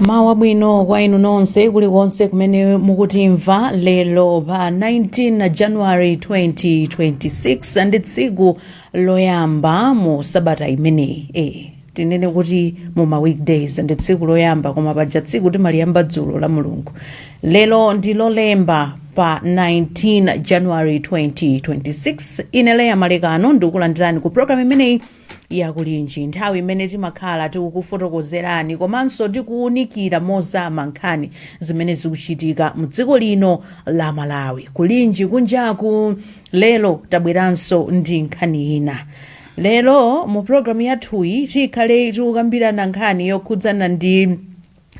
mawu abwino kwa inu nonse kulikonse kumene mukutimva lero pa 19 january 2026 ndi tsiku loyamba mu sabata imeneyi eh, tinene kuti mu ma weekdays ndi tsiku loyamba koma paja tsiku timaliyamba dzulo la mulungu lero ndi lolemba pa 19 january 2026 ine leya malekano ndikulandirani ku programu imeneyi ya Kulinji, nthawi imene timakhala tikukufotokozerani komanso tikuunikira mozama nkhani zimene zikuchitika mdziko lino la Malawi. Kulinji kunjaku lero tabweranso ndi nkhani ina. Lero mu program yathuyi tikhale tikukambirana nkhani yokhudzana ndi.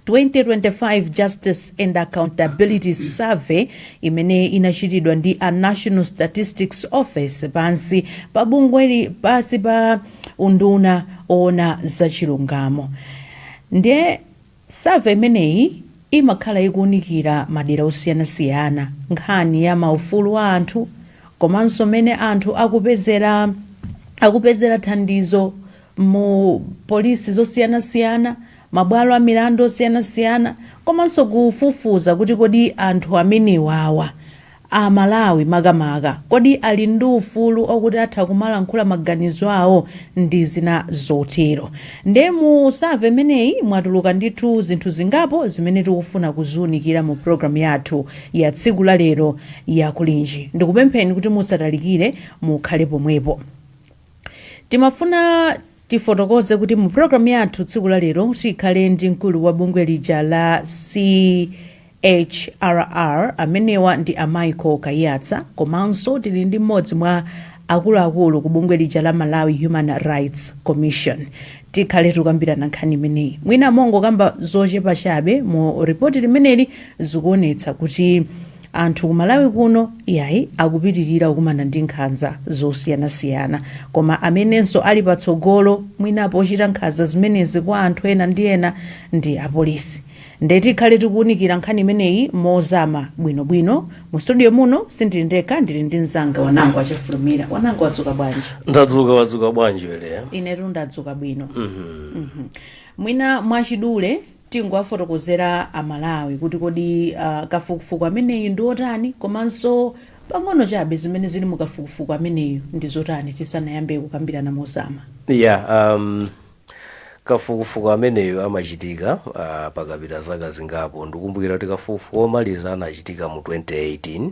2025 Justice and Accountability Survey imene inachitidwa ndi a National Statistics Office pansi pa bungweli pansi pa unduna owona za chilungamo ndiye survey imeneyi imakhala ikuwunikira madera osiyanasiyana nkhani ya maufulu a anthu komanso mene anthu akupezera thandizo mu polisi zosiyanasiyana mabwalo a milandu osiyanasiyana komanso kufufuza kuti kodi anthu amenewawa, a Malawi makamaka, kodi ali ndi ufulu okuti atha kumalankhula maganizo awo ndi zina zotero. Nde mu survey imeneyi mwatuluka ndithu zinthu zingapo zimene tikufuna kuziunikira mu program yathu ya tsiku la lero ya Kulinji. Ndikupempheni kuti musatalikire, mukhale pomwepo. Timafuna tifotokoze kuti mu program yathu tsiku la lero tikhale ndi mkulu wa bungwe lija la CHRR amenewa ndi a Michael Kaiyatsa komanso tili ndi mmodzi mwa akuluakulu ku bungwe lija la Malawi Human Rights Commission. Tikhale tikukambirana nkhani imeneyi. Mwina mongokamba zochepa chabe mu report limeneli zikuonetsa kuti Anthu ku Malawi kuno yayi akupitilira kukumana ndi nkhanza zosiyanasiyana koma amenenso ali patsogolo mwina pochita nkhanza zimenezi kwa anthu ena ndi ena ndi apolisi nde tikhale tikuunikira nkhani imeneyi mozama bwino bwino. Mu studio muno sindili ndekha ndili ndi mzanga Wanangwa Chafulumira. Wanangwa wadzuka bwanji? ndadzuka wadzuka bwanji we Leya Inetu ndadzuka bwino. Mhm. Mwina mwachidule tingowafotokozera a Malawi kuti kodi a, kafukufuku ameneyu ndi otani komanso pang'ono chabe zimene zili mu kafukufuku ameneyu ndi zotani tisanayambe kukambirana mozama. yeah um, kafukufuku ameneyo amachitika uh, pakapita zaka zingapo ndikumbukira kuti kafukufuku omaliza anachitika mu 2018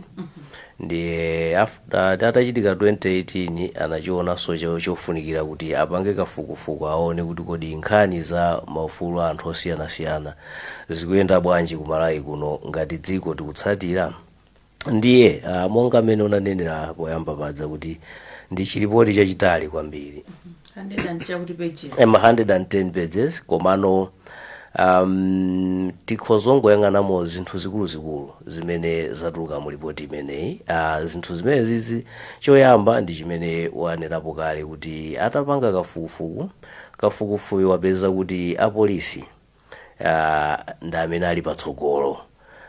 Ndiye atachitika 2018 anachionanso cho- chofunikira kuti apange kafukufuku aone kuti kodi nkhani za maufulu a anthu osiyanasiyana zikuyenda bwanji ku Malawi kuno ngati dziko tikutsatira ndiye ah, monga mmene unanenera poyamba paja kuti ndi chilipoti chachitali kwambiri 100 chakuti pages em 110 pages komano um, tikhoza kungoyang'anamo zinthu zikuluzikulu zimene zatuluka mu lipoti imeneyi uh, zinthu zimene zizi choyamba ndi chimene wanenapo kale kuti atapanga kafukufuku kafukufukuyu wapeza kuti apolisi ah, ndi amene ali patsogolo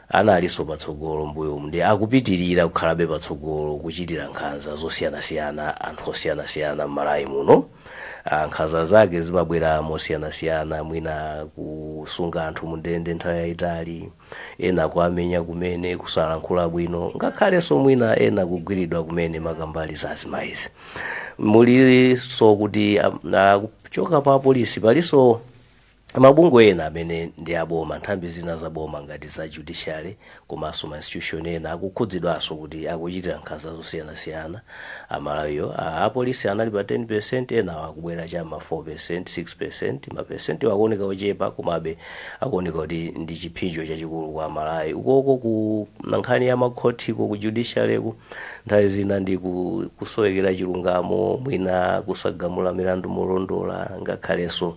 analinso patsogolo mbuyomu ndi akupitirira kukhalabe patsogolo kuchitira nkhanza zosiyanasiyana anthu osiyanasiyana m'Malawi muno Ah, nkhanza zake zimabwera mosiyanasiyana mwina kusunga anthu mundende nthawi yayitali ena kuamenya kumene kusalankhula bwino ngakhalenso mwina ena kugwiridwa kumene makamaka za azimayizi mulinso kuti ah, ah, kuchoka pa apolisi palinso Mabungwe ena amene ndi a boma, nthambi zina za boma ngati za judiciary komanso ma institution ena akukhudzidwanso kuti akuchitira nkhanza zosiyanasiyana Amalawiwo. A apolisi anali pa 10%, enawa akubwera cha m'ma 4%, 6%. Ma percent'wa akuoneka ochepa komabe akuoneka kuti ndi chipsinjo chachikulu kwa Amalawi. Ukoko ku nkhani ya makhothiko, ku judiciary'ku. Nthawi zina ndi ku, kusowekera chilungamo, mwina kusagamula milandu molondola ngakhalenso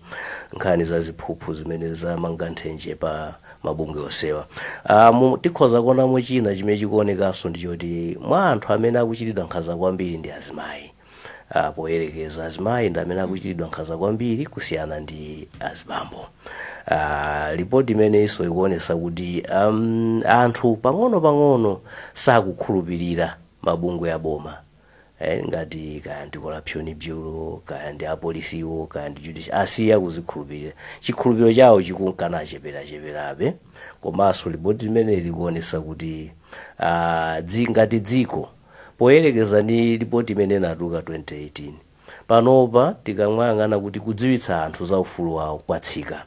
nkhani za ziphuphu zimene zamanga nthenje pa mabungwe onsewa. Ah, mu, tikhoza kuonamo china chimene chikuonekanso ndi choti mwa anthu amene akuchitidwa nkhanza kwambiri ndi azimayi. ah, poyerekeza azimayi ndi amene akuchitidwa nkhanza kwambiri kusiyana ndi azibambo ah, lipoti imeneyinso ikuonesa kuti um, anthu pang'ono-pang'ono sakukhulupirira mabungwe aboma eh, ngati kaya ndi corruption bureau kaya ndi apolisiwo kaya ndi judicial asiya kuzikhulupirira chikhulupiriro chawo chikunka nichicheperacheperabe komanso lipoti limene likuonesa kuti ah, dzi ngati dziko Poyerekeza ndi lipoti imene inatuluka 2018, panopa tikamayang'ana kuti kudziwitsa anthu za ufulu wawo kwatsika,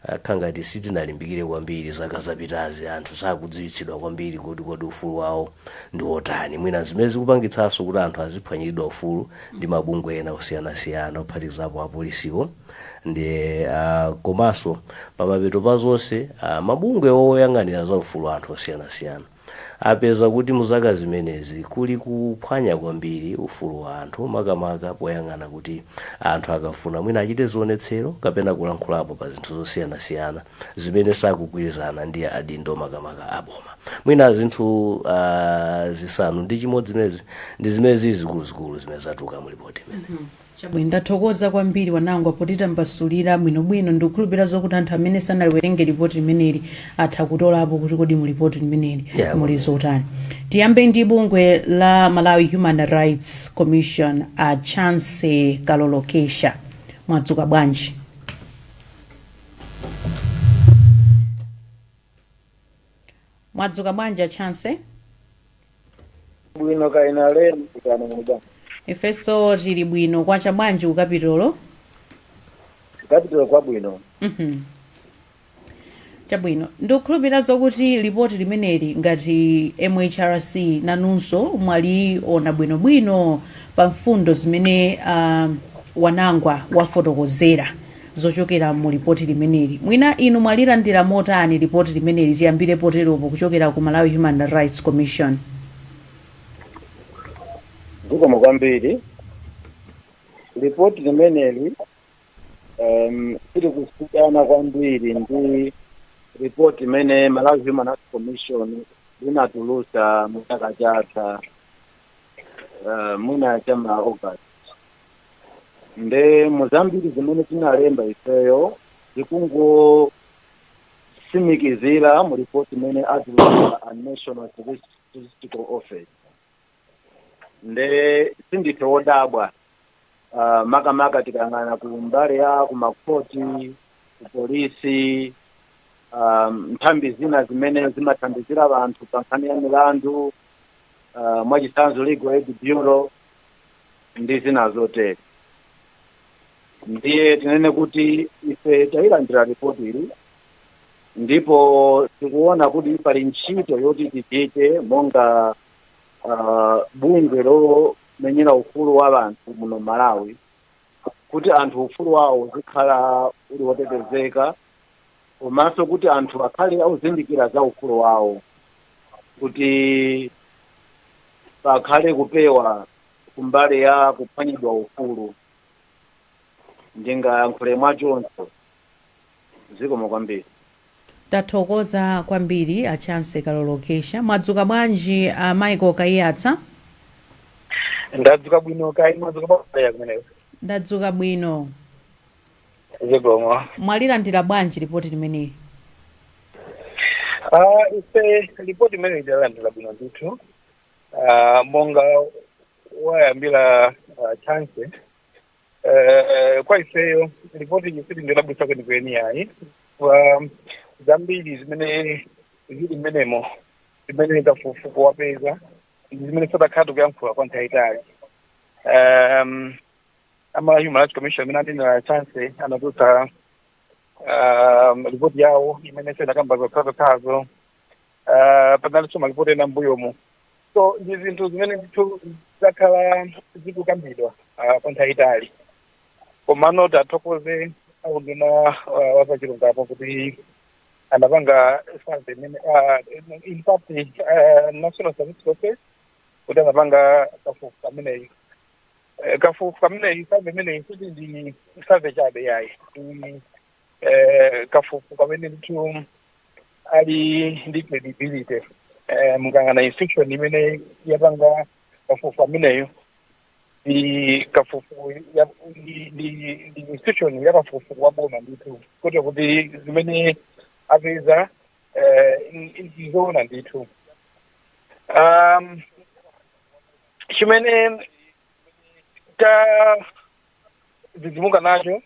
kukhala ngati sitinalimbikire kwambiri zaka zapitazi, anthu sakudziwitsidwa kwambiri kuti kodi ufulu wawo ndi wotani, mwina n'zimene zikupangitsanso kuti anthu aziphwanyiridwa ufulu ndi mabungwe ena osiyanasiyana kuphatikizapo apolisiwo ndi a komanso pamapeto pa zonse, a mabungwe oyang'anira za ufulu wa anthu osiyanasiyana. apeza kuti mu zaka zimenezi kuli kuphwanya kwambiri ufulu wa anthu, makamaka poyang'ana kuti anthu akafuna mwina achite zionetsero kapena kulankhulapo pa zinthu zosiyanasiyana zimene sakugwirizana ndi adindo makamaka a boma. Mwina zinthu uh, zisanu ndi chimodzi zimenezi ndi zimene zili zikuluzikulu zimene zatuluka mu lipoti imeneyi. Chabwino, ndathokoza kwambiri Wanangwa potitambasulira bwinobwino. Ndikukhulupirira zokuti anthu amene sanaliwerenge lipoti limeneli atha kutolapo kuti kodi mu lipoti limeneli muli zotani. Tiyambe ndi bungwe la Malawi Human Rights Commission a Chance Kalolokesha. Mwadzuka bwanji? Mwadzuka bwanji a Chancy? bwino kaya inu a Lemekezani muli bwanji Ifenso tili bwino. Kwacha bwanji ku Kapitolo? Kapitolo kwacha bwino. Mhm. Chabwino. Ndikukhulupirira zokuti lipoti limeneli ngati MHRC nanunso mwaliona bwinobwino pa mfundo zimene ah, Wanangwa wafotokozera. zochokera mu lipoti limeneli. Mwina inu mwalilandira motani lipoti limeneli, tiyambire poteropo, kuchokera ku Malawi Human Rights Commission? Zikomo kwambiri. Lipoti limeneli um, silikusiyana kwambiri ndi ripoti limene Malawi Human Rights Commission linatulusa mu chaka chatha uh, mwina cha ma August nde muzambiri zimene tinalemba ifeyo zikungotsimikizira mu ripoti imene atulutsa a national Statis- statistical office nde sindife wodabwa uh, makamaka tikayang'ana ku mbali ya kumakhoti ku polisi um, nthambi zina zimene zimathandizira anthu pa nkhani ya milandu uh, mwachitsanzo legal aid bureau ndi zina zotere ndiye tinene kuti ife tayilandira ripoti ili ndipo tikuona kuti pali ntchito yoti tichite monga uh, bungwe lomenyera ufulu wa anthu muno malawi kuti anthu ufulu wawo uzikhala uli wotetezeka komanso kuti anthu akhale ozindikira za ufulu wawo kuti pakhale kupewa kumbali ya kuphwanyidwa ufulu ndingayankhule mwachoncho zikomo kwambiri Tathokoza kwambiri a Chancy Kalolokesha. Mwadzuka bwanji a Michael Kaiyatsa? ndadzuka bwino kaya mwadzuka bwanji kumeneko Ndadzuka bwino. zikomo mwalilandira bwanji lipoti limeneli Ah, ife lipoti limeneli talilandira bwino ndithu Ah, monga wayambira ah, Chance Eh, kwa ifeyo lipoti ili silodabwitsa kwenikweni yayi zambiri zimene zili mmenemo zimene kafukufuku wapeza ndi zimene takhala tikuyankhula kwa nthawi itali um, a Malawi Human Rights Commission amene anenera Chance anatulutsa um, ripoti yawo imene inakamba zokhazokhazo uh, panalinso maripoti ena mbuyomu so ndi zinthu zimene ndithu zakhala zikukambidwa uh, kwa nthawi itali komano tathokoze aunduna uh, wazachilungamo kuti anapanga survey imene ah, in fact ah, National Statistical Office kuti anapanga kafukufuku ameneyi Eh, kafukufuku ameneyu survey imeneyi sikuti ndi survey chabe yayi ndi eh, kafukufuku amene ndithu ali ndi credibility eh, mukayang'ana institution imene yapanga kafukufuku ameneyo ndi kafukufuku ya- ndi- ndi ndi institution ya kafukufuku wa boma ndithu kuti kuti zimene apeza eh, ndi- ndi zoona ndithu um, chimene tadzidzimuka nacho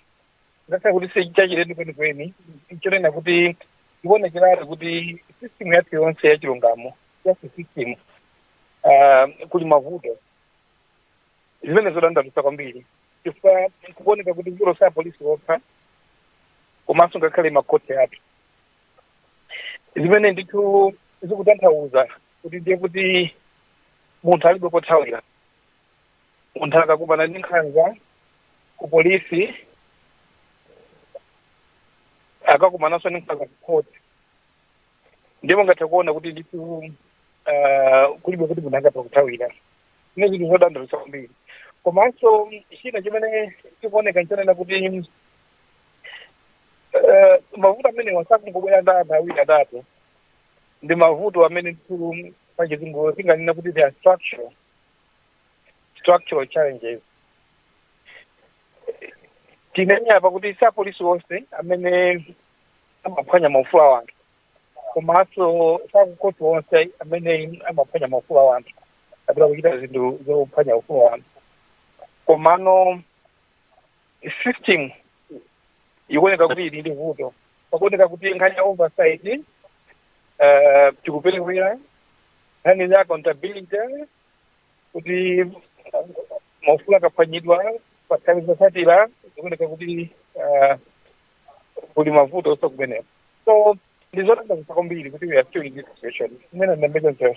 ngakhale kuti si chachilendo kwenikweni nchonena kuti ikuonekeratu kuti system yathu yonse ya chilungamo justice system ah, kuli mavuto zimene zodandaulitsa kwambiri chifukwa kukuoneka kuti vuto si apolisi okha komanso ngakhale makhoti athu zimene ndithu zikutanthauza kuti ndiye kuti munthu alibe kothawira munthu akakumana ndi nkhanza ku polisi akakumananso ndi nkhanza ku khoti ndiye mungathe kuona kuti ndithu ah, kulibe kuti munthu angathe kuthawira zimene zinthu zodandaulitsa kwambiri komanso china chimene chikuoneka nchonena kuti eh, mavuto amenewa sakungobwera ndi anthu awiri atatu ndi mavuto amene ndithu pachizungu tinganena kuti they are structural structural challenges tinenere apa kuti si apolisi onse amene amaphwanya maufulu a anthu komanso si akukhoti onse amene amaphwanya maufulu a anthu kapena kuchita zinthu zophwanya ufulu wa anthu komano system ikuoneka kuti ili ndi vuto pakuoneka kuti nkhani za oversight eh, tikuperewera nkhani za accountability kuti maufulu akaphwanyidwa pa nthawi zotsatira zikuoneka kuti eh, kuli mavuto onse kumeneko so ndizodandaulitsa kwambiri kuti we are still in this situation imene ndambekonzera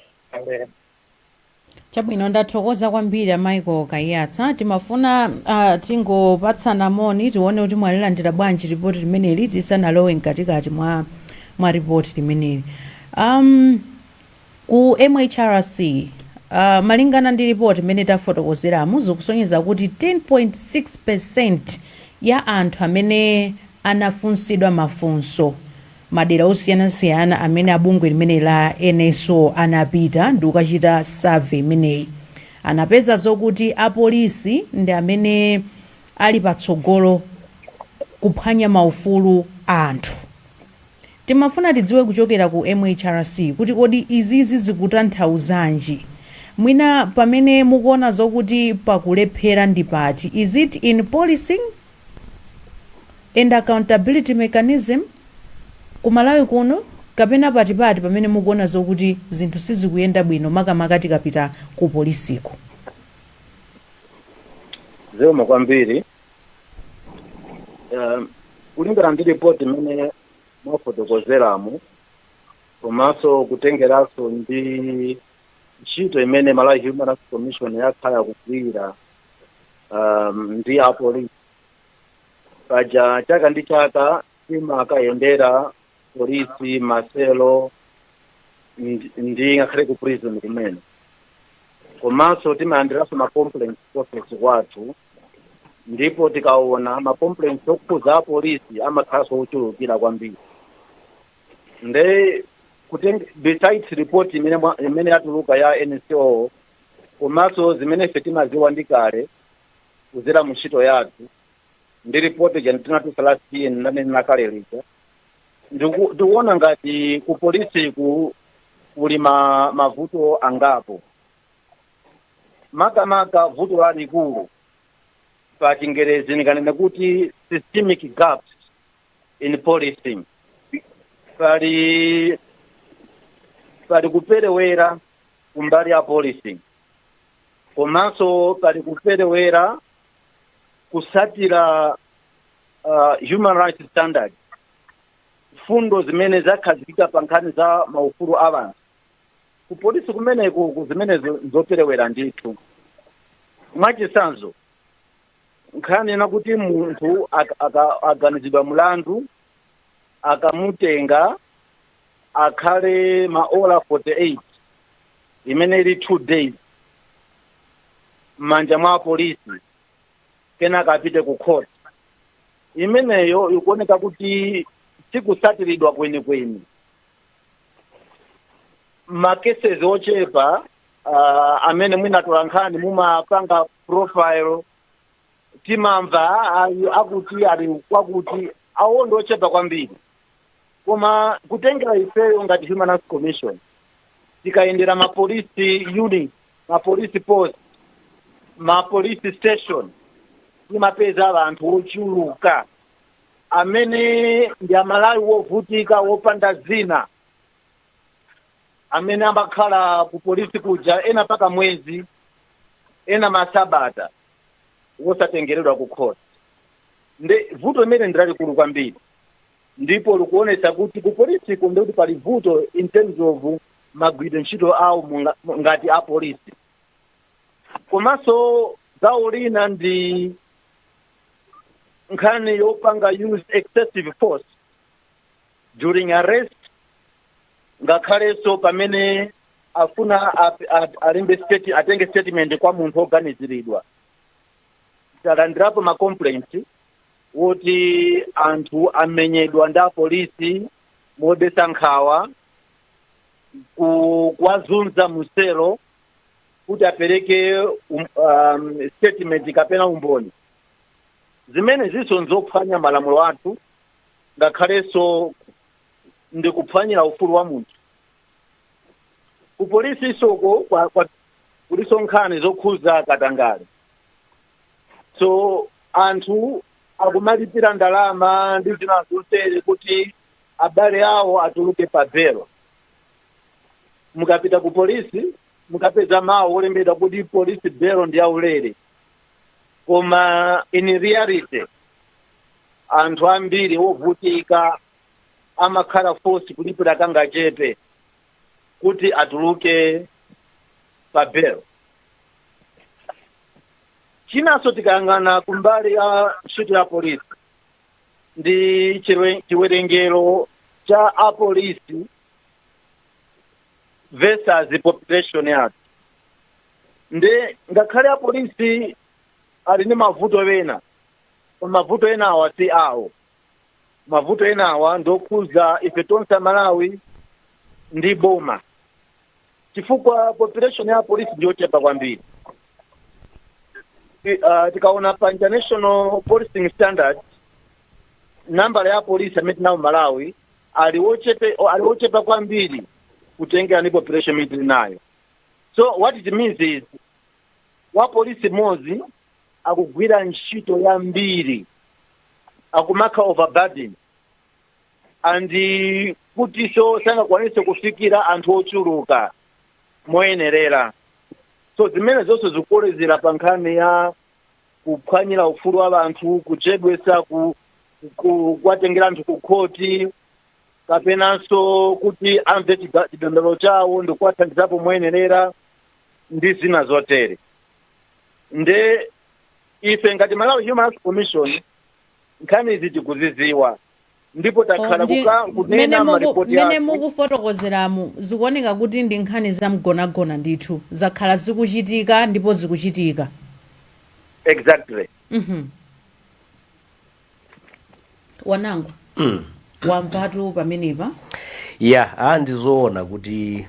Chabwino, ndathokoza kwambiri a Michael Kaiyatsa. Timafuna ah, tingopatsana moni tione kuti mwalilandira bwanji ripoti limeneli tisanalowe mkatikati mwa, mwa ripoti limeneli. Um, ku MHRC uh, malingana ndi ripoti imene tafotokozeramu zikusonyeza kuti 10.6% ya anthu amene anafunsidwa mafunso Madera osiyanasiyana amene a bungwe limeneli la NSO anapita ndikukachita survey imeneyi, anapeza zokuti a polisi ndi amene ali patsogolo kuphwanya ma ufulu a anthu. Timafuna tidziwe kuchokera ku MHRC kuti kodi izizi zikutanthauzanji? Mwina pamene mukuona zokuti pakulephera ndi pati? Is it in policing? and accountability mechanism ku Malawi kuno kapena ndi pati pamene mukuona zokuti zinthu sizikuyenda bwino makamaka tikapita ku polisiko. Zikomo kwambiri. Um, kulingana ndi report imene mwafotokozeramu komanso kutengeranso ndi ntchito imene Malawi Human Rights Commission yakhala ikugwira um, ndi apolisi paja chaka ndi chaka timakayendera police ma cell ndi- ndi ngakhale ku prison kumene komanso timalandiranso ma complaints ku office kwathu ndipo tikaona ma complaints okhuza apolisi amakhalanso ochulukira kwambiri nde kuteng besides report imene mwa- imene yatuluka ya NSO komanso zimene ife timadziwa ndi kale kudzera mu ntchito yathu ndi ripoti lija tinatulutsa last year ndanena kale lija Ndiku- ndikuona ngati ku polisiku kuli ma, mavuto angapo makamaka vuto lalikulu pa chingerezi ndikanene kuti systemic gaps in policing pali pali kuperewera kumbali ya polisi komanso pali kuperewera kusatira uh, human rights standards mfundo zimene zakhazikika pa nkhani za maufulu a anthu ku polisi kumeneko ku zimenezo zoperewera ndithu mwachitsanzo nkhani ina kuti munthu aka- aka- aganizidwa mlandu akamutenga akhale maola 48 imene ili 2 days m'manja mwa apolisi kenaka apite ku court imeneyo ikuoneka kuti sikusatiridwa kwenikweni makeses ochepa uh, amene mwina atola nkhani mumapanga profile timamva ayu akuti ali kwakuti awo ndi ochepa kwambiri koma kutengera ifeyo ngati human rights commission tikayendera ma police unit ma police post ma police station timapeza anthu ochuluka amene ndi amalawi wovutika wopanda zina amene amakhala ku polisi kuja ena mpaka mwezi ena masabata wosatengeredwa ku khoti nde vuto limene ndi lalikulu kwambiri ndipo likuonetsa kuti ku polisiko nde kuti pali vuto in terms of magwiridwe ntchito awo munga- mu- ngati a polisi komanso gawo lina ndi nkhani yopanga use excessive force during arrest ngakhalenso pamene afuna ap- ap- alembe state atenge statement kwa munthu oganiziridwa talandirapo ma complaint woti anthu amenyedwa ndi apolisi modetsa nkhawa ku- kuwazunza muselo kuti apereke um, um, statement kapena umboni zimene ziliso nzophwanya malamulo athu ngakhalenso ndi kuphwanyira ufulu wa munthu ku polisi soko kwa- kwa- kuliso nkhani zokhuza katangale so anthu akumalipira ndalama ndi zina zotere kuti abale awo atuluke pa belo mukapita ku polisi mukapeza mawu olembedwa kuti polisi belo ndi yaulere koma in reality anthu ambiri ovutika amakhala force kulipira kangachepe kuti atuluke pa belo chinanso tikayang'ana kumbali ya ntchito ya polisi ndi chiwe- chiwerengero cha apolisi versus population yathu nde ngakhale apolisi ali ndi mavuto ena koma mavuto enawa si awo mavuto enawa ndokhuza ife tonse amalawi ndi boma chifukwa population ya polisi ndiyochepa kwambiri Ti- ah, tikaona pa international policing standard nambala ya polisi amene tili nawo malawi ali wochepe ali wochepa kwambiri kutengera ndi population imene tili nayo so what it means is wa polisi mmodzi akugwira ntchito yambiri akumakhala overburdened and kutiso sangakwanise kufikira anthu ochuluka moyenerera so zimenezi zonse zikukolezera pa nkhani ya kuphwanyira ufulu wa anthu kuchedwesa ku, ku, kuwatengera anthu ku khoti kapenanso kuti amve chida- chidandaulo chawo ndi kuwathandizapo moyenerera ndi zina zotere nde ife ngati malawi human rights commission nkhani izi tikuziziwa ndipo takhala ndi kuka mmene kunena muku- maripoti mmene athu mukufotokozeramu zikuoneka kuti ndi nkhani za mgonagona ndithu zakhala zikuchitika ndipo zikuchitika exactly Mhm. a Nangu mwamvatu pamenepa ya a ndizoona kuti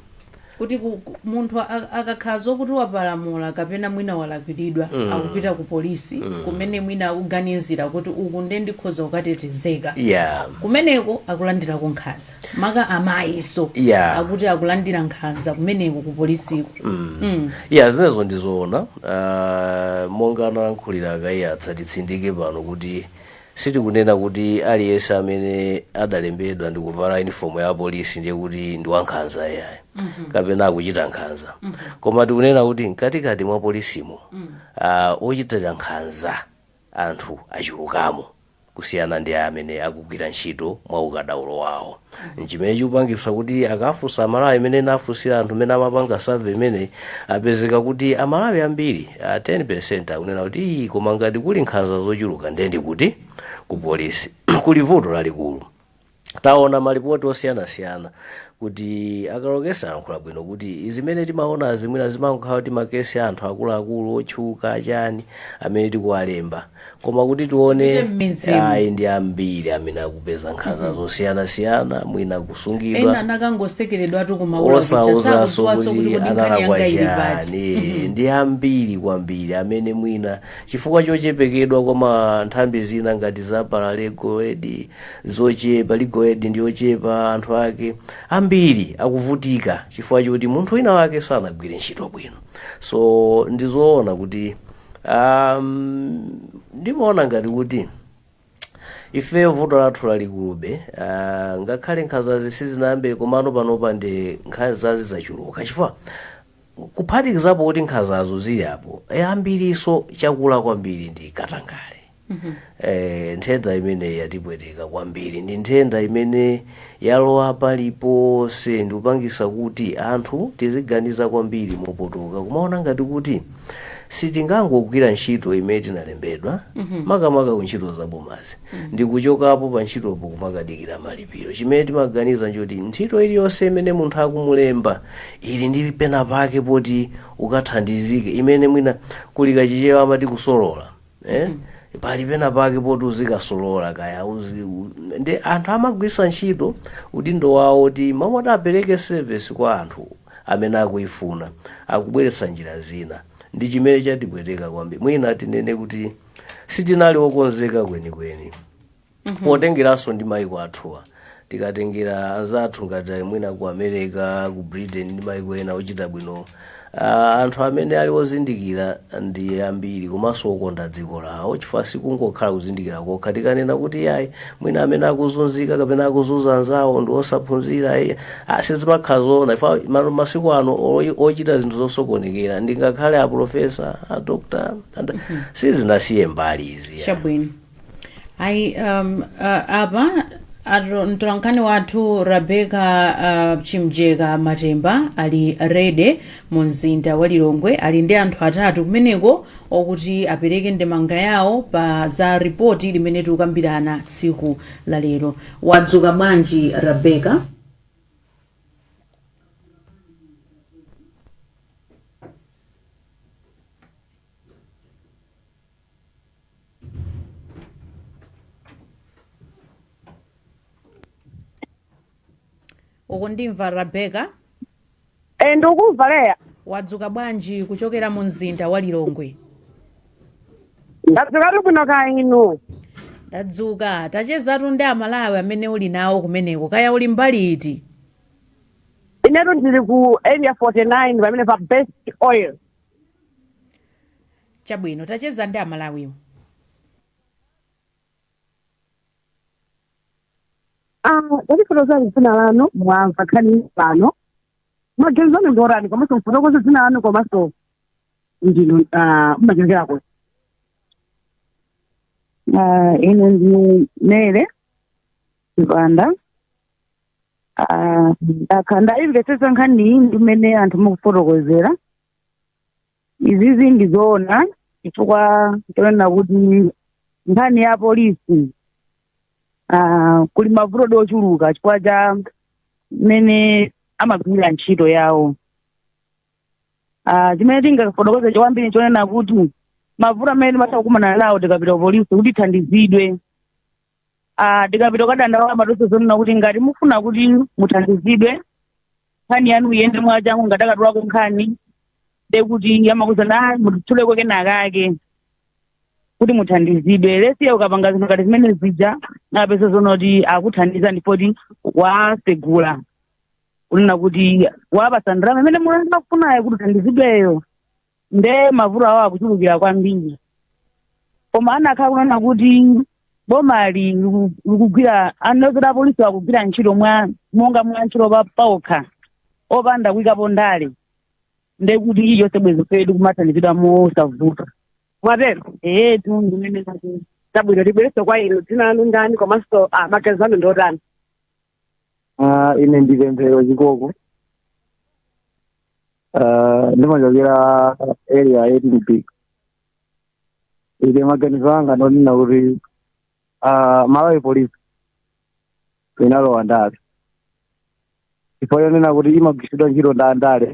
kuti munthu akakhala zokuti wapalamula kapena mwina walakwiridwa akupita ku polisi kumene mwina akuganizira kuti uku nde ndikhoza kukatetezeka yeah kumeneko akulandirako nkhanza maka amayiso Yeah. akuti akulandira nkhanza kumeneko ku polisiko Mm. ya zimenezo ndizoona uh, monga analankhulira a Kaiyatsa titsindike pano kuti Sitikunena kuti aliyense amene adalembedwa ndi kuvala uniform ya polisi ndiye kuti ndi wankhanza ayayi kapena akuchita nkhanza koma tikunena kuti mkatikati mwa polisimo ah, ochita nkhanza anthu achulukamo kusiyana ndi amene akugwira ntchito mwa ukadaulo wawo nchimene chikupangitsa kuti akafunsa amalawi mmene anafunsira anthu amene amapanga survey imeneyi apezeka kuti amalawi ambiri ah, 10 akunena kuti "Ii, koma ngati kuli nkhanza zochuluka ndendi kuti ku polisi kuli vuto lalikulu taona malipoti osiyanasiyana kuti a Kalokesa alankhula bwino kuti zimene timaonazi mwina zimakhala kuti makesi a anthu akuluakulu otchuka chani amene tikuwalemba koma kuti tione ayi ndi ambiri amene akupeza nkhanza zosiyanasiyana mwina ena kusungidwa anakangosekeredwa tu kumaula osauzanso kuti kuti kodi nkhani yanga ili pati analakwa chani ndi ambiri kwambiri amene mwina chifukwa chochepekedwa kwa ma nthambi zina ngati za paralegal aid zochepa legal aid ndi yochepa anthu ake ambiri akuvutika chifukwa choti munthu wina wake sanagwire ntchito bwino so ndizoona kuti Um, ndimaona ngati kuti ifeyo vuto lathu lalikulube uh, ngakhale nkhanzazi sizinayambire komano panopa ndi nkhanzazi zachuluka chifukwa kuphatikizapo kuti nkhanzazo zilipo zambiriso chakula kwambiri ndi katangale eh, nthenda imeneyi yatipweteka kwambiri ndi nthenda imene yalowa paliponse ndi kupangisa kuti anthu tiziganiza kwambiri mopotoka kumaona ngati kuti sitingangogwira ntchito imene tinalembedwa makamaka ku ntchito za bomazi ndi kuchokapo pa ntchitopo kumakadikira malipiro chimene timaganiza nchoti ntchito iliyonse imene munthu akumulemba ili ndi pena pake poti ukathandizike imene mwina kuli kachichewa amati kusolola eh? pali pena pake poti uzikasolola kaya uzi, u, ndi anthu amagwisa ntchito udindo wawo oti mmalo moti apereke service kwa anthu amene akuifuna akubweretsa njira zina ndi chimene chatipweteka kwambiri mwina tinene kuti sitinali okonzeka kwenikweni potengeranso ndi maiko athuwa tikatengera anzathu ngati mwina ku america ku britain ndi maiko ena ochita bwino ah, anthu amene ali ozindikira ndi ambiri komanso okonda dziko lawo chifukwa sikungokhala kuzindikira kokha tikanena kuti yayi mwina amene akuzunzika kapena akuzunza anzawo ndi osaphunzira eh, ah, sizimakhala zoona chifukwa ma- masiku ano oyi- ochita zinthu zosokonekera ndi ngakhale aprofesa adokta sizinasiye mbali izi ya. chabwino ayi um, uh, apa atu- mtolankhani wathu rebeka uh, chimjeka matemba ali ready mu mzinda wa lilongwe ali ndi anthu atatu kumeneko okuti apereke ndemanga yawo pa za ripoti limene tikukambirana tsiku la lero wadzuka bwanji rebeka ukundimva rebeka Eh, ndikukumva leya wadzuka bwanji kuchokera mu mzinda wa lilongwe ndadzuka bwino kaya inu tadzuka tachezatu ndi amalawi amene uli nawo kumeneko kaya uli mbali iti inetu ndili ku area 49 pamene pa best oil Chabwino tacheza ndi amalawiwo. Tatifotokozani dzina lanu mwamva nkhani pano maganizo anu ndi otani komanso mufotokoze dzina lanu komanso ndinu ah, mumachokera kuti Ah, ine ndi mele chipanda Ah, nane ndaimvetsetsa nkhani iyi ndi mmene anthu mukufotokozera izizi ndi zoona chifukwa chonena kuti nkhani ya polisi ah, kuli mavuto ochuluka chifukwa cha mmene amagwirira ntchito yawo Ah, chimene tingafotokoze kwambiri nchonena kuti mavuto amene timatha kukumana nawo tikapita ku polisi kuti tithandizidwe ah, tikapita kukadandaula amatiuza zonena kuti ngati mufuna kuti muthandizidwe nkhani yanu iyende mwachangu ngati ukatulako nkhani nde kuti amakuuza mutituleko kenakake kuti muthandizidwe ndiye ukapanga zinthu ngati zimene zija umapeza zonoti akuthandiza ndipoti wasegula kunena kuti wapatsa ndalama imene iwo akufunayo kuti uthandizidweyo nde mavuto awo akuchulukira kwambiri koma anakhala kunena kuti boma ili liku- likugwira a polisi akugwira ntchito mwa monga mwa ntchito pa- paokha opanda kuikapo ndale nde kuti ife tonse bwezi tikumathandizidwa mosavuta mwatero ee tu ndimene zatero chabwino tibwerenso kwa inu dzina lanu ndani komanso ah, maganizo anu ndi otani Ah, ine ndi pemphero chikoko Ah, ndimachokera area 18B ine maganizo anga ndonena kuti ah, malawi polisi inalowa ndale chifukwa chonena kuti imagwiritsidwa ntchito ndi andale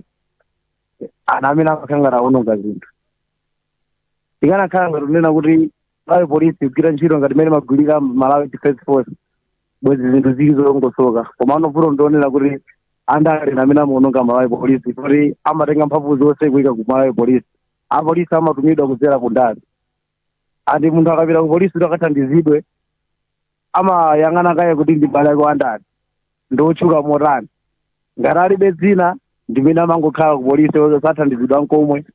ndi amene amakhala ngati aononga zinthu ikanakhala ngati kunena kuti malawi polisi kugwira ntchito ngati mmene imagwirira malawi defense force bwezi zinthu zili zolongosoka koma ano vuto ndi lonena kuti andale ndi amene amaononga malawi polisi kuti amatenga mphamvu zonse kuika ku malawi polisi apolisi amatumidwa kudzera ku ndale andi munthu akapita ku polisi kuti akathandizidwe amayang'ana kaye kuti ndi m'bale wake wandani ndi otchuka motani ngati alibe dzina ndi amene amangokhala ku polisi osathandizidwa nkomwe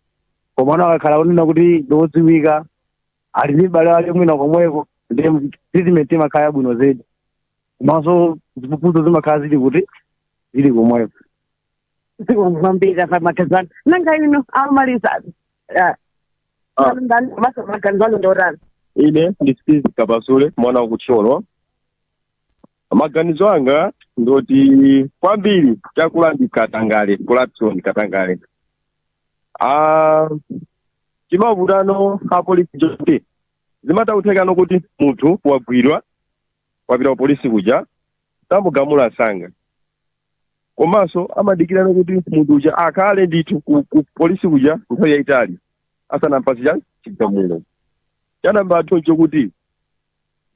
koma ano akakhala kunena kuti ndi odziwika ali ndi m'bale wake mwina komweko ndi treatment imakhala yabwino zedi komanso ziphuphuzo zimakhala zili kuti zili komweko dziko kwambiri apa maganizo nanga ino amaliza Ah. ndani masa maganzano ndorani ine ndi Steve Kapasule mwana wa ku Thyolo maganizo anga ndoti kwambiri chakula ndi katangale corruption katangale ah, chimavutano apolisi choti zimatha kuthekako kuti munthu wagwidwa wapita ku polisi kuja samugamula msanga komanso amadikirano kuti munthu uja akhale ndithu ku, ku polisi kuja nthawi yayitali asanampatse cha chigamulo choyamba ndithu chokuti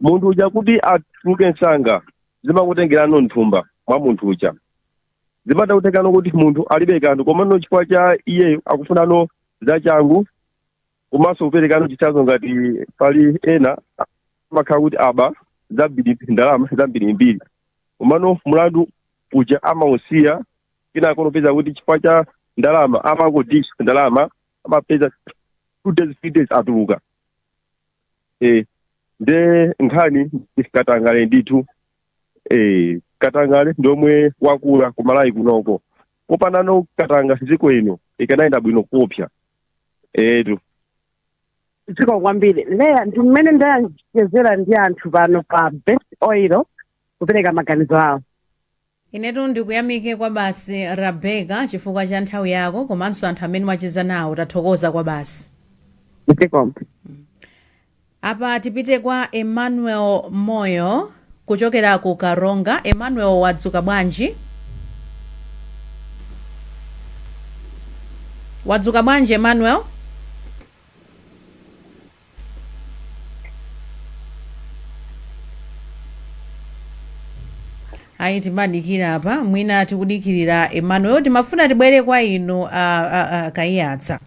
munthu uja kuti atuluke msanga zimakutengerano m'thumba mwa munthu uja zimatha kuthekako kuti munthu alibe kanthu komano chifukwa cha iyeyo akufunano zachangu komanso kuperekako chitsanzo ngati pali ena amakhala kuti aba zambiri ndalama zambirimbiri komano mlandu uja amausiya kenako ndikupeza kuti chifukwa cha ndalama amango dish ndalama amapeza two days three days atuluka eh nde nkhani katangale ndithu eh katangale ndiomwe wakula ku Malawi kunoko kupanda katangale dziko lino likanayenda bwino koopsa etu dziko kwambiri Leah ndi mmene ndachezera ndi anthu pano pa Best Oil kupereka maganizo awo inetu ndikuyamike kwa basi Rebecca chifukwa cha nthawi yako komanso anthu amene mwacheza nawo tathokoza kwa basi dziko Apa tipite kwa Emmanuel Moyo kuchokera ku Karonga. Emmanuel wadzuka bwanji? Wadzuka bwanji Emmanuel? ayi timadikira apa mwina tikudikirira Emmanuel timafuna tibwere kwa inu a, a, a, Kaiyatsa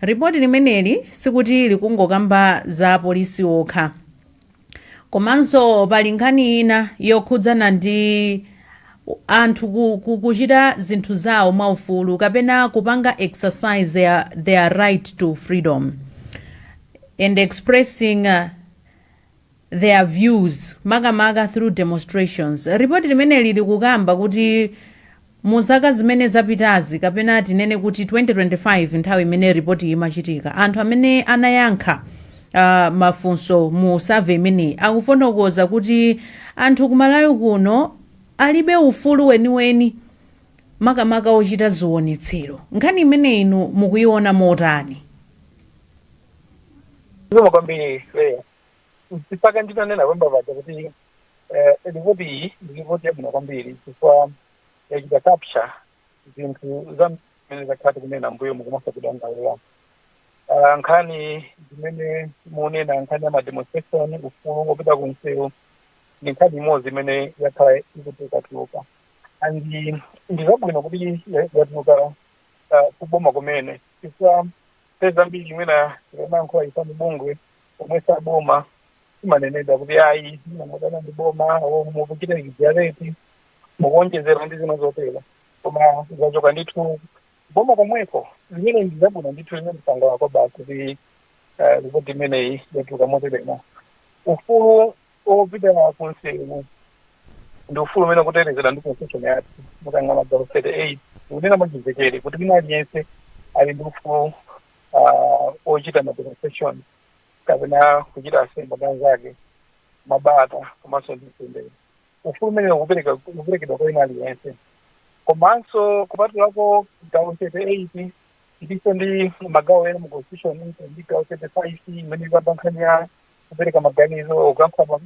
Report limeneli sikuti likungokamba za apolisi okha komanso pali nkhani ina yokhudzana ndi anthu ku, ku, kuchita zinthu zawo mwaufulu kapena kupanga exercise their, their right to freedom and expressing uh, their views makamaka through demonstrations. Report limeneli likukamba kuti mu zaka zimene zapitazi kapena tinene kuti 2025 nthawi imene report iyi imachitika anthu amene anayankha uh, mafunso mu survey imeneyi akufotokoza kuti anthu ku Malawi kuno alibe ufulu weniweni makamaka ochita zionetsero. Nkhani imeneyi inu mukuiona motani? Zikomo kwambiri Leya. Mwina nditanena koyamba paja kuti eh, ripoti iyi ndi ripoti yabwino kwambiri chifukwa yachita capture zinthu zimene takhala tikunena m'mbuyomu komanso kudandaula Ah, nkhani zimene mukunena nkhani ya mademonstration ufulu wopita ku msewu ndi nkhani imodzi imene yakhala ikutulukatuluka and ndi zabwino kuti ya- yatuluka ah, kuboma kumene chifukwa nthawi zambiri mwina tikamayankhula ife mabungwe omwe sa boma timanenedwa kuti ayi mwina mukudana ndi boma o mukuchita exaggerate mukuonjezera ndi zina zotero koma zachoka ndithu boma komweko zimene ndi zabwino ndithu zimene tikusangalala nazo basi kuti eh, ripoti imeneyi yatuluka moteremo ufulu opita ku nsewu ndi ufulu umene ukutetezedwa ndi Constitution yathu. Mukayang'ana gawo 38 ikunena mwachimvekere kuti wina aliyense ali ndi ufulu uh, ochita ma demonstration kapena kuchita assembly ndi anzake mwabata komanso ndi mtendere. Ufulu umene ukupereka ukuperekedwa kwa wina aliyense komanso kupatulako gawo 38 tilinso ndi magawo ena mu constitution ndi gawo 35 imene ikamba nkhani ya kupereka maganizo kuyankhula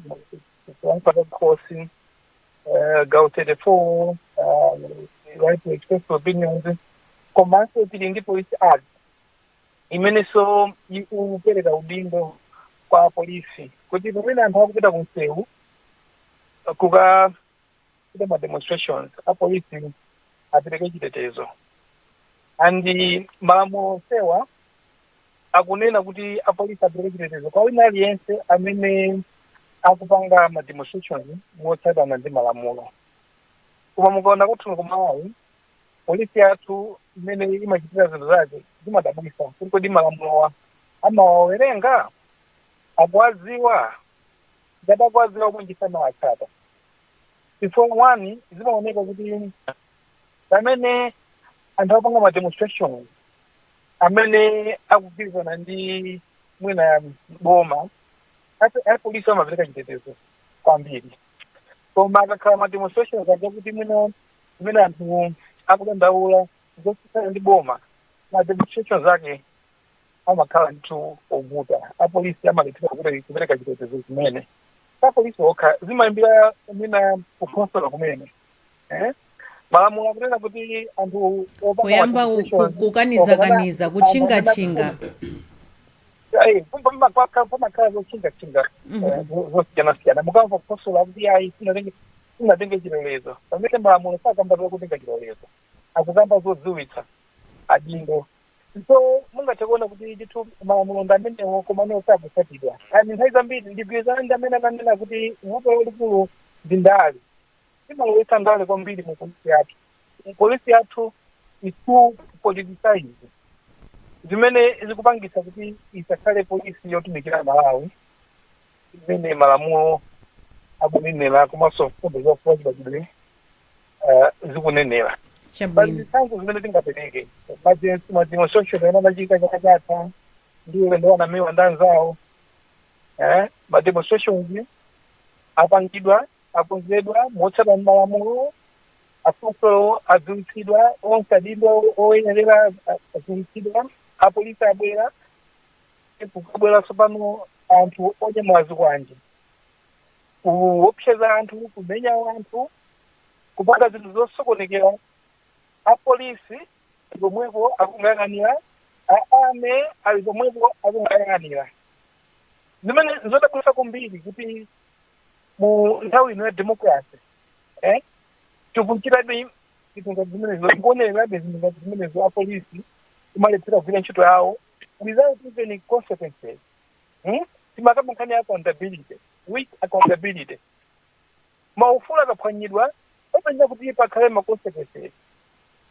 kuyankhula zakukhosi eh, gawo 34 ah, right to express opinions komanso tili ndi police act imenenso ikupereka udindo kwa polisi kuti pamene anthu akupita ku msewu kuka kuchita ma demonstrations apolisi apereke chitetezo and malamulo onsewa akunena kuti apolisi apereke chitetezo kwa wina aliyense amene akupanga ma demonstrations motsatana ndi malamulo koma mukaona kwathu kuno ku Malawi polisi yathu mmene imachitira zinthu zake zimadabwisa kuti kodi malamulowa amawawerenga akuwadziwa Ngati akuwadziwa bwanji samawatsata? Chifukwa one, zimaoneka kuti pamene anthu akupanga ma demonstration amene akugwirizana ndi mwina boma apolisi amapereka chitetezo kwambiri koma akakhala ma demonstrations aja kuti mwina zimene anthu akudandaula zosiyana ndi boma ma demonstrations ake amakhala ndithu ovuta apolisi amalephera kuti kupereka chitetezo zimene apolisi okha zimayambira mwina kukhonsolo kumene eh? malamulo akunena kuti anthu apange kuyamba ku- notification- ku- kukanizakaniza anthu amene- kutchingatchinga Ayi, pampa- pampa- paka- pamakhala zotchingatchinga eh, zo- zosiyanasiyana mukamva kukhonsolo akuti ayi simunatenge simunatenge chilolezo pamene malamulo sakamba zokutenga chilolezo akukamba zodziwitsa adindo So mungathe kuona kuti ndithu malamulo ndi amenewo komano sakutsatidwa. And nthawi zambiri ndigwirizane ndi amene ananena kuti vuto lalikulu ndi ndale. Imalowetsa ndale kwambiri mu polisi yathu. Polisi yathu is too politicized zimene zikupangitsa kuti isakhale polisi yotumikira Amalawi. zimene malamulo akunenera komanso mfundo za ufulu wachibadwidwe eh, zikunenera pa chabwino zitsanzo zimene tingapereke monga mademonstration amene anachita chaka chatha ndi a Silvester Namiwa ndi anzawo eh, mademonstrations apangidwa akonzedwa motsatana malamulo afunso adziwitsidwa onse adindo oyenerera adziwitsidwa apolisi abwera kukabwera tsopano anthu onyamula zikwanje kuopseza anthu kumenya anthu kupanga zinthu zosokonekera apolisi ali pomwepo akungoyang'anira a Army ali pomwepo akungoyang'anira zimene zodabwitsa kwambiri kuti mu nthawi ino ya democracy eh, tikuchitabe zinthu ngati zimenezo zikuonekerabe zinthu ngati zimenezo apolisi kumalephera kugwira ntchito yawo without even consequences hmm? timakamba nkhani ya accountability weak accountability maufulu akaphwanyidwa pamayenera kuti pakhale ma consequences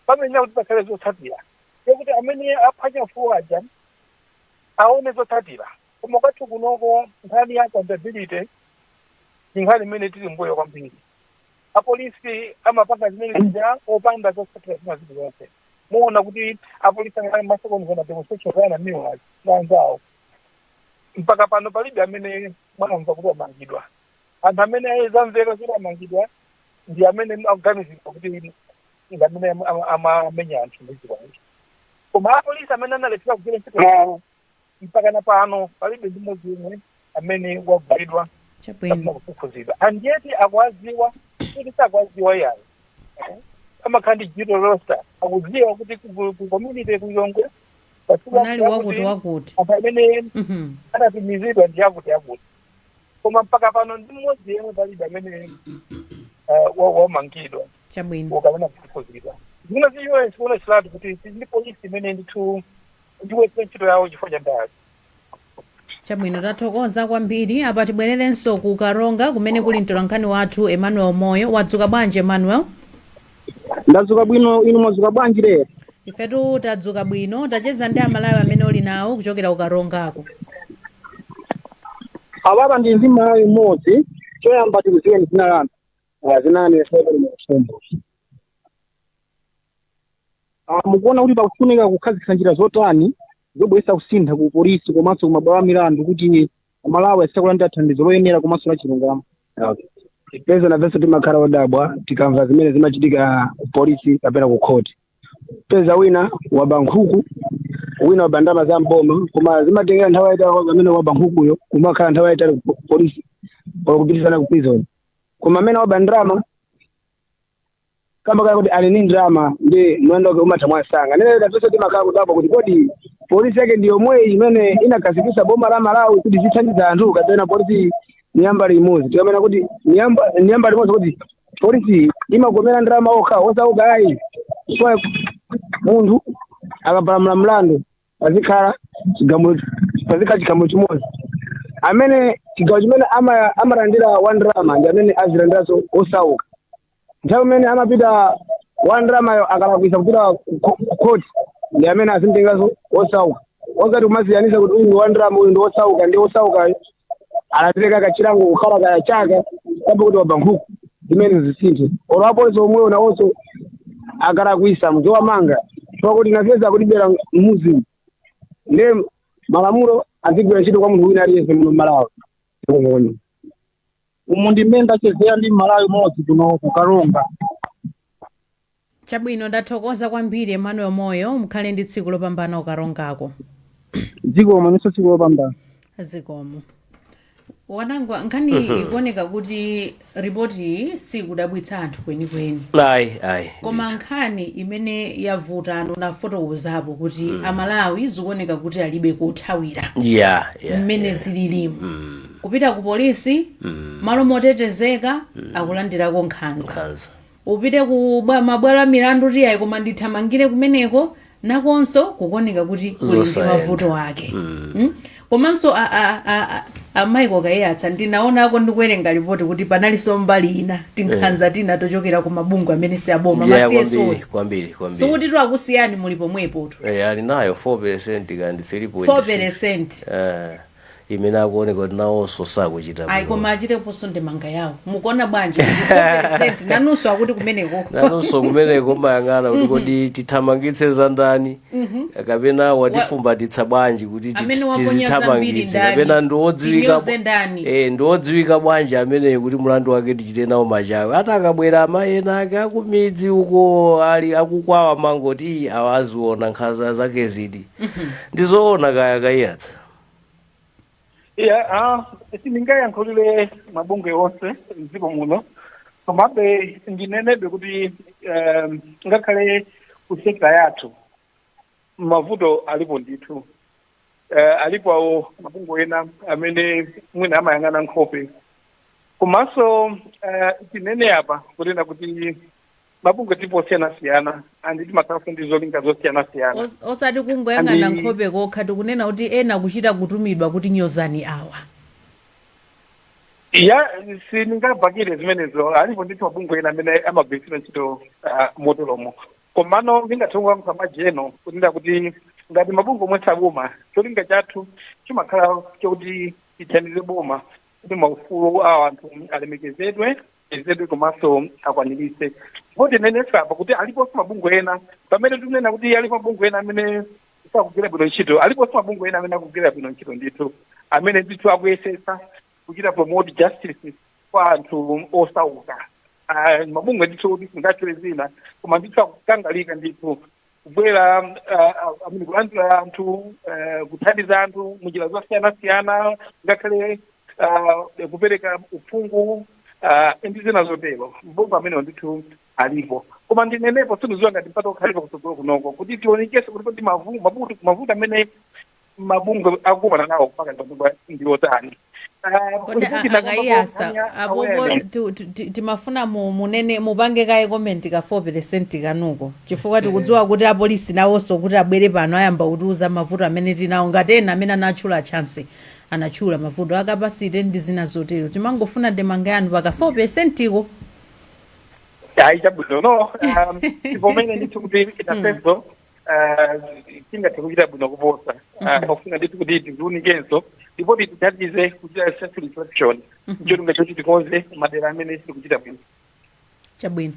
pamayenera kuti pakhale zotsatira zokuti amene aphwanya ufulu aja aone zotsatira koma kwathu kunoko nkhani ya accountability ndi nkhani imene tili mbuyo kwambiri apolisi amapanga zimene zija opanda zotsatira zina zilizonse muona kuti apolisi angakhale anasokoneza mademonstration za a Namiwa na anzawo mpaka pano palibe amene munamva kuti amangidwa anthu amene zamveka kuti amangidwa ndi amene akuganizidwa kuti ndi amene ama- amamenya anthu ndi zikwanje koma apolisi amene analephera kugwira ntchito yawo Mpakana pano palibe ndi mmodzi yemwe amene wagwidwa kapena Chabwino. kufufuzidwa and yet akuwadziwa osati sakuwadziwa ayi amakhala ndi duty roster akudziwa kuti ku- ku- ku Community Ground Kunali wakuti wakuti. anthu amene Mhm. anatumizidwa ndi akuti akuti koma mpaka pano ndi mmodzi yemwe palibe amene eh, wa- wamangidwa Chabwino. kapena kufufuzidwa zimene zikuonetseratu kuti ndi polisi imene ndithu ikulephera ntchito yawo chifukwa cha ndale Chabwino tathokoza kwambiri. Apa tibwererenso ku Karonga kumene kuli mtolankhani wathu Emmanuel Moyo. Wadzuka bwanji Emmanuel? ndadzuka bwino inu mwadzuka bwanji lero Ifetu tadzuka bwino. Tachezani ndi Amalawi amene uli nawo kuchokera ku Karongako. apapa ndili ndi Mmalawi mmodzi choyamba tikudziweni dzina lanu azinani esebele mafumbo Ah, mukuona kuti pakufunika kukhazikitsa njira zotani zobweretsa kusintha ku polisi komanso ku mabwalo a milandu kuti amalawi azilandira thandizo loyenera komanso la chilungamo peza nafenso timakhala odabwa tikamva zimene zimachitika ku polisi kapena ku khoti peza wina waba nkhuku wina waba ndalama za mboma koma zimatengera nthawi yayitali kwa amene waba nkhukuyo kumakhala nthawi yayitali ku po- polisi or kupitizana ku prison koma amene waba ndrama kamba kaya kuti ali ni ndrama ndi mlandu wake umatha mwansanga nde tonse timakhala kudabwa kuti kodi polisi yake ndi yomweyi imene inakhazikitsa boma la malawi kuti zithandiza anthu kapena polisi ni ya mbali imodzi tikamanena kuti ni ya mba ni ya mbali imodzi kuti polisi imakomera andrama okha osauka ayi chifukwa munthu akapalamula mlandu pazikhala chigamulo pazikhala chigamulo chimodzi chimene chigamulo chimene ama- amalandira wandrama ndi chimene azilandiranso osauka nthawi imene amapita wandramayo akalakwisa kupita ku- ku court ndi amene azimtenganso osauka osati kumasiyanisa kuti uyu ndi wandrama uyu ndi osauka nde osaukayo anapereka kachilango kukhala kaya chaka kamba kuti waba nkhuku zimenezi zisinthe olo apolisi omwewo nawonso akalakwisa muziwamanga chifukwa nafe akutibera mmudzimu nde malamulo azigwira ntchito kwa munthu wina aliyense muno mmalawi zikomo umu ndi mmene ndachezera ndi mmalawi mmodzi kuno ku Karonga Chabwino ndathokoza kwambiri Emmanuel Moyo mukhale ndi tsiku lopambana ku Karongako. zikomo inunso tsiku lopambana. zikomo. Wanangwa nkhani ikuoneka kuti ripoti iyi siikudabwitsa anthu kwenikweni. ayi ayi koma ndithu. nkhani imene yavuta ndinafotokozapo kuti amalawi zikuoneka kuti alibe kothawira yeah yeah mmene yeah. zililimu kupita ku polisi malo motetezeka akulandirako nkhanza nkhanza Upite ku bwa, mabwalo a milandu kuti ayi koma ndithamangire kumeneko nakonso kukuoneka kuti kuli ndi Zosayenda. mavuto ake Mm? komanso a- a- a- a- a Michael Kaiyatsa ndinaonako ndikuwerenga lipoti kuti panalinso mbali ina tinkhanza tina tochokera ku mabungwe amene si aboma Yeah, ma kwambiri CSOs kwambiri kwambiri sikuti takusiyani muli pomwepotu Eh, ali nayo 4 percent kandi 3.6 4 percent Eh, imene akuoneka kuti nawonso sakuchita ayi bwino. koma achiteponso ndemanga yawo mukuona bwanji 4 percent, nanunso akuti kumeneko nanonso kumeneko mayang'ana kuti kodi tithamangitse za ndani kapena watifumbatitsa bwanji kuti ti- Amene waponya zambiri tizithamangitse ndani? kapena ndiwodziwika Tinyoze ndani? eh, ndiwodziwika bwanji ameneyo kuti mlandu wake tichite nawo machawe ati akabwera amayi enaake akumidzi uko ali akukwawa mangoti "Ii, awa aziona nkhanza zake ziti ndizoona kaya a Kaiyatsa Yeah, ah, sindingayankhulire mabungwe onse mdziko muno komabe ndinenenso kuti um, ngakhale ku sekta yathu mavuto alipo ndithu uh, alipo awo mabungwe ena amene mwina amayang'ana nkhope komanso uh, tinene apa kunena kuti mabungwe tipo osiyanasiyana and timakhalanso ndi zolinga zosiyanasiyana Os- osati kungoyang'ana nkhope kokha tikunena kuti ena kuchita kutumidwa kuti nyozani awa ya sindingabakile zimenezo alipo ndithu mabungwe ena amene amagwiritsidwa ntchito ah, moteromo komano ndikuthokozanso podzanena kunena kuti ngati mabungwe omwe si aboma cholinga chathu chimakhala chokuti tithandize boma kuti maufulu a anthu alemekezedwe apezedwe komanso akwaniritsidwe koma ndinenenso apa kuti aliponso mabungwe ena pamene tikunena kuti alipo mabungwe ena amene sakugwira bwino ntchito aliponso mabungwe ena amene akugwira bwino ntchito ndithu amene ndithu akuyesetsa kuchita promote justice kwa anthu osauka Ah, mabungwe ndithu kuti sindingatchule dzina koma ndithu akukangalika ndithu kubwera uh, amene kulandira anthu uh, kuthandiza anthu munjira zosiyanasiyana ngakhale uh, kupereka uphungu uh, ndi zina zotero mabungwe amenewo ndithu alipo koma ndinenepo sindikudziwa ngati mpata ukhalapo kutsogolo kunoko kuti tionekese kuti kodi mavu- mavuto mavuto amene mabungwe akukumana nawo mpaka ndikuba ndi otani Ah, kodi ripoti a- inakamba a Kaiyatsa kuti anya- apopo awareness. tu- tu- ti- timafuna mu- munene mupange kaye komenti ka 4 peresenti kanuko chifukwa tikudziwa kuti apolisi nawonso kuti abwere pano ayamba kutiuza mavuto amene tinawo ngati ena amene anatchula Chancy anatchula mavuto a capacity ndi zina zotero timangofuna ndemanga yanu paka 4 peresentiko ayi chabwino no um, tivomere ndithu kuti nafenso ah, tingathe kuchita bwino kuposa Ah, pakufunika ndithu kuti tidziunikenso lipoti litithandize kuchita self reflection cholinga choti tikonze madera amene sitikuchita bwino chabwino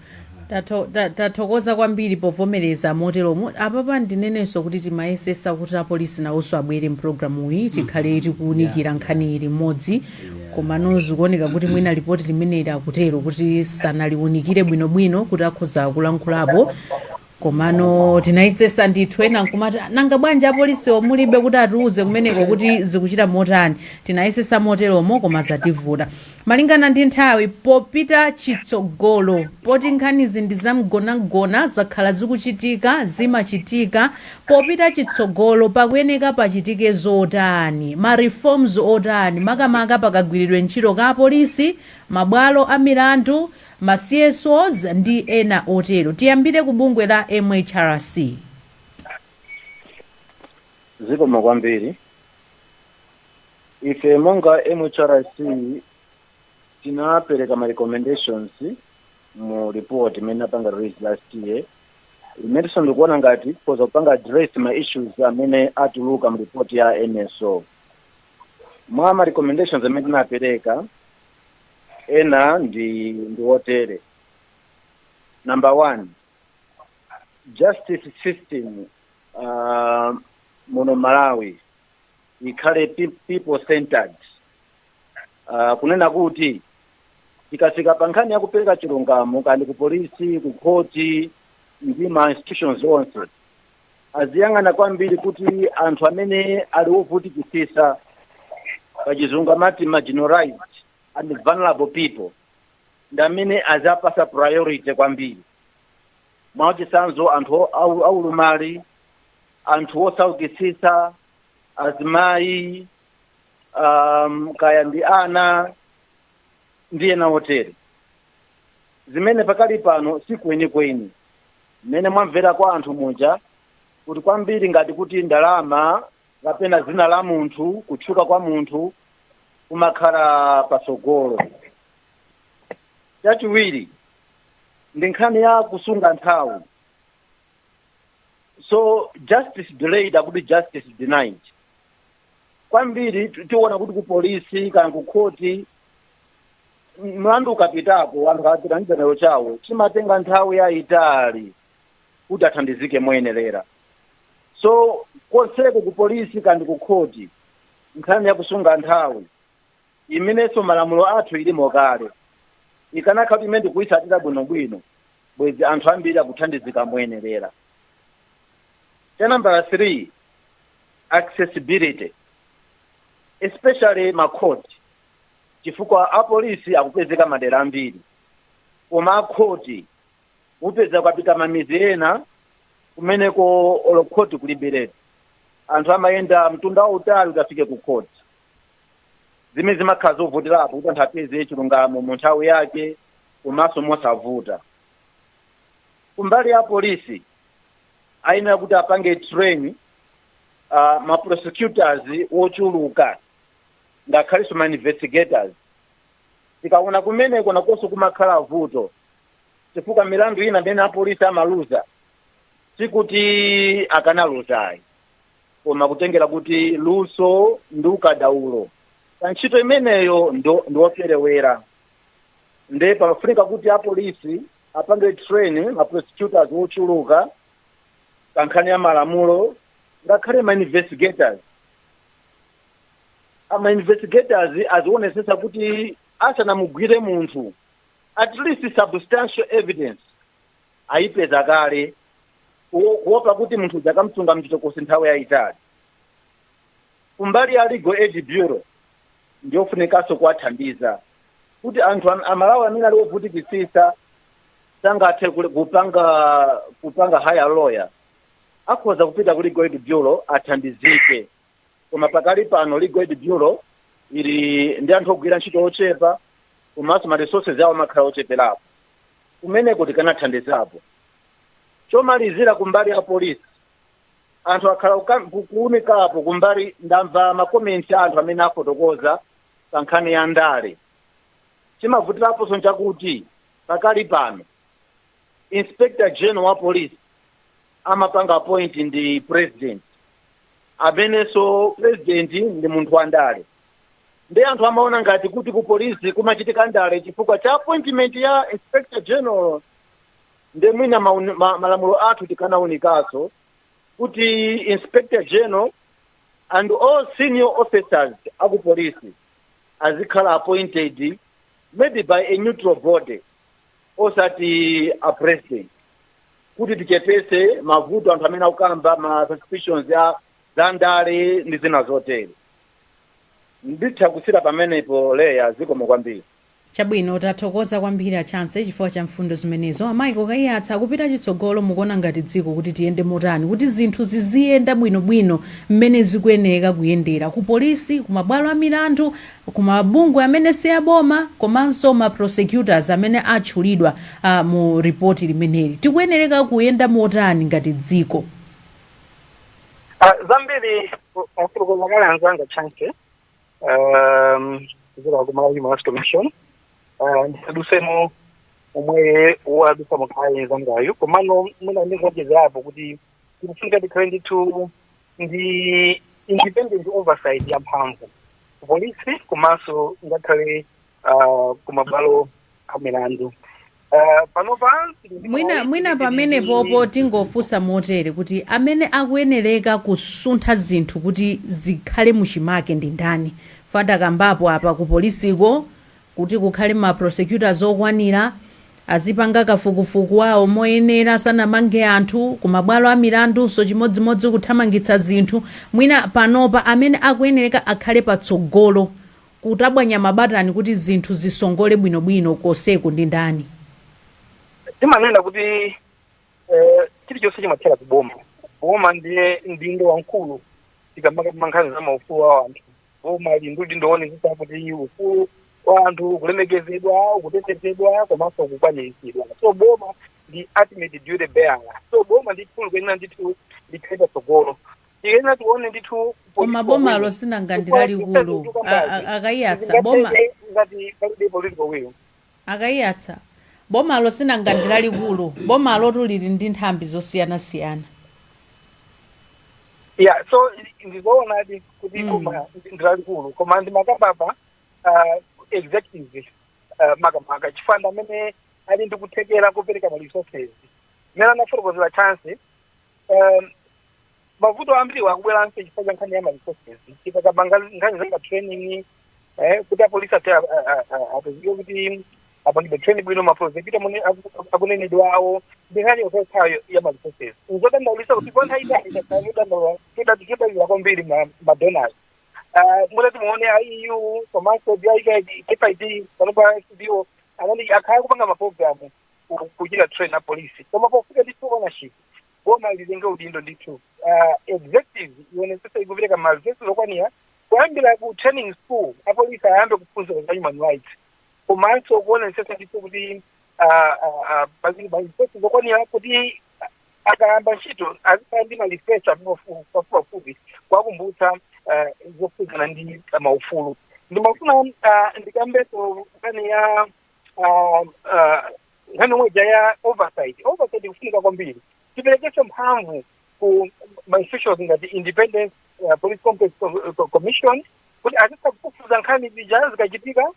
Tatho- ta- tathokoza kwambiri povomereza moteromo apapa ndinenenso kuti timayesesa kuti apolisi nawonso abwere mpulogalamu iyi tikhale tikuwunikira nkhani iyi limodzi komano zikuoneka kuti mwina lipoti limeneli akutero kuti sanaliwunikire bwinobwino kuti akhoza kulankhulapo komano tinayesesa ndithu ena nkumati "Ah, nanga bwanji apolisiwo mulibe kuti atiuze kumeneko kuti zikuchita motani tinayesesa moteromo koma zativuta malingana ndi nthawi popita chitsogolo poti nkhanizi ndi zamgonamgona zakhala zikuchitika zimachitika popita chitsogolo pakuyeneka pachitike zotani ma reforms otani makamaka pakagwiridwe ntchito ka apolisi mabwalo a milandu ma CSOs ndi ena otero. Tiyambire ku bungwe la MHRC. Zikomo kwambiri. Ife monga MHRC tinapereka ma recommendations mu report imene tinapanga release last year, imenenso tikuona ngati ikhoza kupanga address ma issues amene atuluka mu report ya NSO. Mwa ma recommendations amene tinapereka, ena ndi ndi otere number one justice system uh, muno malawi ikhale pe- people centered uh, kunena kuti ikafika pa nkhani ya kupereka chilungamo kaya ndi ku polisi ku khoti ndi ma institutions onse aziyang'ana kwambiri kuti anthu amene ali ovutikitsitsa pachizungu amati marginalized and vulnerable people ndi amene aziwapatsa priority kwambiri mwachitsanzo anthu o- au- aulumali anthu osaukitsitsa azimayi um, kaya ndi ana ndi ena otero zimene pakali pano si kwenikweni mmene mwamvera kwa anthu muja kuti kwambiri ngati kuti ndalama kapena dzina la munthu kutchuka kwa munthu kumakhala patsogolo chachiwiri ndi nkhani ya kusunga nthawi so justice delayed akuti justice denied kwambiri ti- tiona kuti ku polisi kaya ku khoti mlandu ukapitako anthu akapita ndi chidandauro chawo chimatenga nthawi yayitali kuti athandizike moyenerera so konseko ku polisi kaya ndi ku khoti nkhani ya kusunga nthawi imenenso malamulo athu ilimo kale ikanakhala kuti imene tikuyitsatira bwinobwino bwezi anthu ambiri akuthandizika moyenerera cha nambala 3 accessibility especially ma court chifukwa apolisi akupezeka madera ambiri koma akhoti upeza ukapita mmamidzi ena kumeneko olo khoti kulibiretu anthu amayenda mtunda wautali kuti afike ku khoti zimene zimakhala zovutirapo kuti anthu apeze chilungamo mu nthawi yake komanso mosavuta kumbali ya polisi ayenera kuti apange train uh, ma prosecutors wochuluka ngakhalinso ma investigators tikaona kumeneko nakonso kumakhala vuto chifukwa milandu ina imene apolisi amaluza sikuti akanaluzayi koma kutengera kuti luso ndi ukadaulo pa ntchito imeneyo ndiwoperewera nde pamafunika kuti apolisi apange train ma prosecutors ochuluka pa nkhani ya malamulo ngakhale ma investigators a ma investigators azionesesa kuti asanamugwire munthu at least substantial evidence ayipeza kale ku- kuopa kuti munthu udzakamsunga mchitokosi nthawi yayitali kumbali ya legal aid bureau ndiyofunikanso kuwathandiza kuti anthu am- amalawi amene ali ovutikisisa sangathe kule- kupanga kupanga hire lawyer akhoza kupita ku legal aid bureau athandizike koma pakali pano legal aid bureau ili ndi anthu ogwira ntchito ochepa komanso ma resources awo amakhala ocheperapo kumeneko tikanathandizapo chomalizira kumbali ya polisi anthu akhala kuka- ku- kuunikapo kumbali ndamva makomenti a anthu amene afotokoza pa nkhani ya ndale chimavutiraponso nchakuti pakali pano inspector general wa polisi amapanga appoint ndi president amenenso president ndi munthu wa ndale nde anthu amaona ngati kuti ku polisi kumachitika ndale chifukwa cha appointment ya inspector general nde mwina maun- ma- malamulo athu tikanaunikaso kuti inspector general and all senior officers aku polisi azikhala appointed maybe by a neutral body osati a president kuti tichepese mavuto anthu amene akukamba ma suspicions za ndale ndi zina zotere nditha kusiira pamenepo leya zikomo kwambiri chabwino tathokoza kwambiri a chancy chifukwa cha mfundo zimenezo a michael kaiyatsa kupita chitsogolo mukuona ngati dziko kuti tiyende motani kuti zinthu ziziyenda bwinobwino mmene zikuyeneka kuyendera ku polisi ku mabwalo a milandu ku mabungwe amene si aboma komanso ma prosecutors amene atchulidwa mu report limeneli. Tikuyenereka kuyenda motani ngati dziko? A, zambiri a- afotokoza kale anzanga a chancy um, kuchokera ku malawi human rights commission uh, ndisadusemo momwe wadusamo kale nzangayo komano mwina ndingoonjezerapo kuti kufunika tikhale ndithu ndi independent oversight ya mphamvu polisi komanso ngakhale uh, kumabwalo a milandu uh, panopa mwina pamenepopo tingofunsa motere kuti amene akuyenereka kusuntha zinthu kuti zikhale muchimake ndi ndani fada kambapo apa ku polisiko Kuti kukhale ma prosecutors okwanira, azipanga kafukufuku wawo moyenera asanamange anthu, ku mabwalo a milandunso chimodzimodzi kuthamangitsa zinthu, mwina panopa amene akuyenereka akhale patsogolo kutabwanya mabatani kuti zinthu zisongole bwinobwino konseku ndi ndani? Timanena kuti chilichonse chimathera ku boma, boma ndiye mdindo wamkulu tikamakamba nkhani za maufulu a anthu. boma lili ndi udindo woonetsetsa kuti ufulu wa anthu ukulemekezedwa ukutetezedwa komanso ukukwaniritsidwa so boma ndi ultimate duty bearer so boma ndithu likuyenera ndithu likhale patsogolo tiyenera tione ndithu koma bomalo sinanga ndi lalikulu A- a- akayiyatsa boma ngati palibe political will Akaiyatsa bomalo sinanga ndilalikulu bomalotu lili ndi nthambi zosiyana siyana. Yeah so ndizoonadi kuti mm. boma ndilalikulu koma ndimakambapa uh, executive uh, makamaka chifukwa ndi amene ali ndi kuthekera kopereka ma resources mmene anafotokozera Chance um, mavuto ambiriwa akubweranso chifukwa cha nkhani ya ma resources chifukwa tikakamba nkhani za ma training eh, kuti apolisi ati apezeke kuti apangidwe training bwino ma prosecutor amene aku- akunenedwa awo ndi nkhani yokhayo ya ma resources nzodandaulisa kuti kwa nthawi yaitali tadandaula chodalira kwambiri ma- ma donors Ah, mutati muone EU komanso GIZ DFID panopa SBO anani akhala akupanga maprogramu ku- kuchita train a polisi koma pofunika ndithu ownership boma litenge udindo ndithu uh, executive ionetsetse ikupereka ma resources okwanira kuyambira ku training school apolisi ayambe kuphunzira za human rights komanso kuonetsetsa ndithu kuti ah, ah, ah, pazikhala ma resources okwanira kuti akayamba ntchito azikhala ndi ma refresher apafupi pafupi kuwakumbutsa ah, zokhudzana ndi maufulu ndimafuna ah, ndikambenso nkhani ya um, uh, nkhani yomwe ija ya oversight oversight ikufunika kwambiri tiperekenso mphamvu ku ma institutions ngati independent uh, police complaints Co- Co- commission kuti azitha kufufuza nkhani zija zikachitika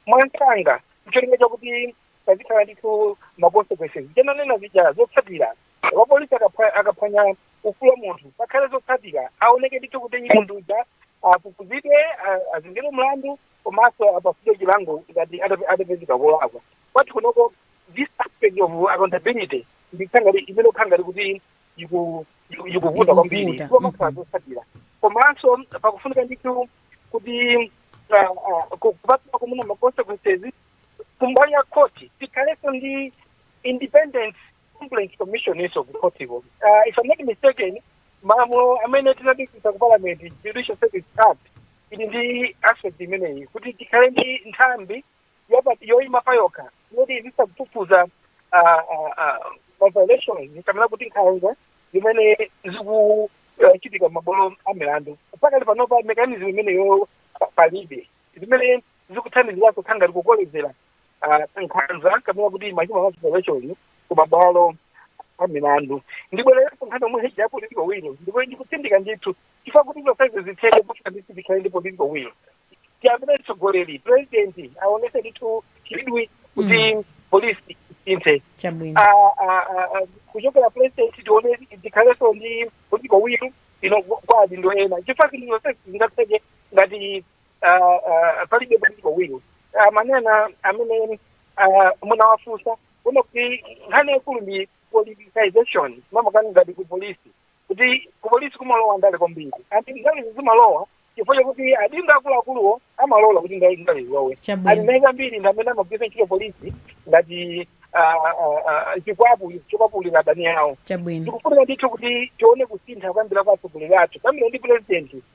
mwamsanga ncholinga chakuti pazikhala ndithu ma consequences zomwe nanena zija zotsatira wapolisi akapha- akaphwanya ufulu wa munthu pakhale zotsatira aoneke ndithu kuti munthu uja afufuzidwe a- azengedwe mlandu komanso apatsidwe chilango ngati ata- atapezeka olakwa kwathu kunoko this aspect of accountability ndi imene ikukhala ngati kuti iku- iku- ikuvuta kwambiri Kumakhala zotsatira komanso pakufunika ndithu kuti ah, ah, ku- kupatula kuona ma consequences kumbali ya khoti tikhalenso ndi independent complaint commission-nso ku khotiko. Uh, if I'm not mistaken, malamulo amene tinapitisa ku parliament judicial service act ili ndi aspect imeneyi kuti tikhale ndi nthambi yopa- yoyima payokha yoti izitha kufufuza ah, ah, ah, ma violations kapena kuti nkhanza zimene zikuchitika m'mabwalo a milandu pakali panopa mekanizmu imeneyo pa- palibe zimene zikuthandiziranso kukhala ngati kukolezera ah, nkhanza kapena kuti ma human rights violations ku mabwalo a milandu ndibwererepo nkhani yomwe ija ya political will ndipo ndikutsindika ndithu chifukwa kuti zonsezi zitheke kuti ndithu tikhale ndi political will tiyambire mtsogoleri president aonetse ndithu chidwi kuti polisi isinthe chabwino Ah, ah, ah, ah, kuchokera president tione tikhalenso ndi political will yo kwa adindo ena chifukwa kuti zonsezi zingatheke ngati ah, ah, palibe political will amanena amene ah, munawafunsa kuno kuti nkhani yaikulu ndi politicization makamaka ngati ku polisi kuti ku polisi kumalowa ndale kwambiri ati ndale zimalowa chifukwa chakuti adindo akuluakuluwo amalola kuti ndale ndale zilowe Chabwino. andale ambiri ndi amene amagwiritsa ntchito polisi ngati ah, ah, ah, chikwapu chokwapulira adani awo chabwino tikufuna ndithu kuti tione kusintha kuyambira kwa atsogoleri athu kuyambira ndi purezidenti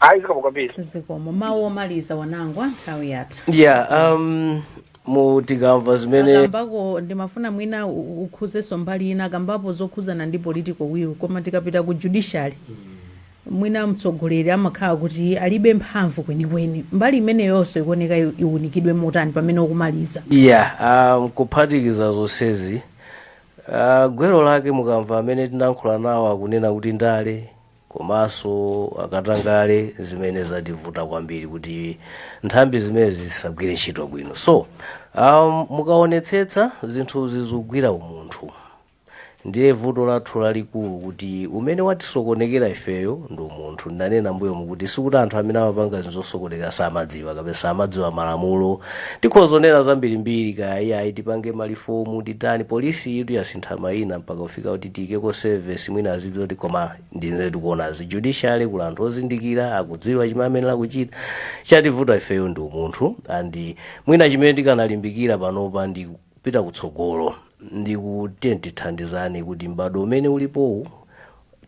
ayi zikomo kwambiri zikomo mawu omaliza Wanangwa nthawi yatha yeah um mmm tikamva zimene akambako ndimafuna mwina u- u- ukhuzenso mbali ina akambapo zokhuzana ndi political will koma tikapita ku judiciary mwina mtsogoleri amakhala kuti alibe mphamvu kwenikweni mbali imeneyonso ikuoneka i- iwunikidwe motani pamene ukumaliza yeah um, kuphatikiza zonsezi uh, gwero lake mukamva amene tinankhula nawo akunena kuti ndale komanso katangale zimene zativuta kwambiri kuti nthambi zimenezi zisagwire ntchito bwino so um, mukaonetsetsa zinthuzi zikugwira umunthu ndiye vuto lathu lalikulu kuti umene watisokonekera ifeyo ndi umunthu ndanena m'mbuyomu kuti sikuti anthu amene amapanga zinthu zosokonekera samadziwa kapena samadziwa malamulo tikhoza kunena zambirimbiri kaya iyayi tipange malifomu titani polisiyitu yasintha mayina mpaka kufika kuti tiikeko service mwina azidziwa kuti koma ndine tikuona judiciary kuli anthu ozindikira akudziwa chimene ayenera kuchita chativuta ifeyo ndi umunthu and mwina chimene tikanalimbikira panopa ndi kupita kutsogolo ndi kuti tithandizane kuti m'bado umene ulipowu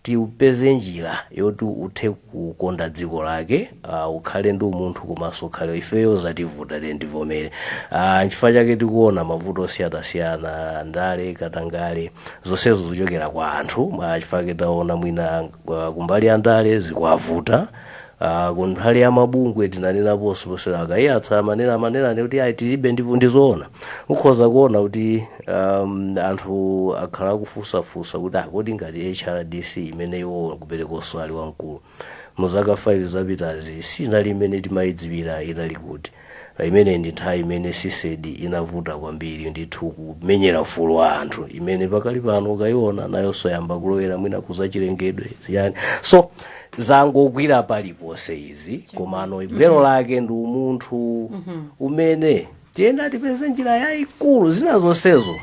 tiupeze njira yoti uthe kukonda dziko lake uh, ukhale ndi umunthu komanso ukhale ifeyo zativuta lero ndivomere uh, nchifukwa chake tikuona mavuto osiyanasiyana ndale katangale zonsezo zichokera kwa anthu nchifukwa chake taona mwina uh, kumbali ya ndale zikuwavuta uh, kunthali ya mabungwe tinanenaponso posera a kaiyatsa amanena amanena kuti ayi tilibe ndipo ndizoona ukhoza kuona kuti um, anthu akhala akufunsafunsa kuti kodi ngati hrdc imene iwo kuperekonso ali wamkulu mu zaka 5 zapitazi sinali imene timayidziwira inali kuti imeneyi ndi nthawi imene cedep inavuta kwambiri ndithu kumenyera ufulu wa anthu imene pakali pano ukayiona nayonso yayamba kulowera mwina kuzachilengedwe ziyani so zangogwira paliponse izi komano gwero lake ndi umunthu umene tiyenera tipeze njira yayikulu zina zonsezo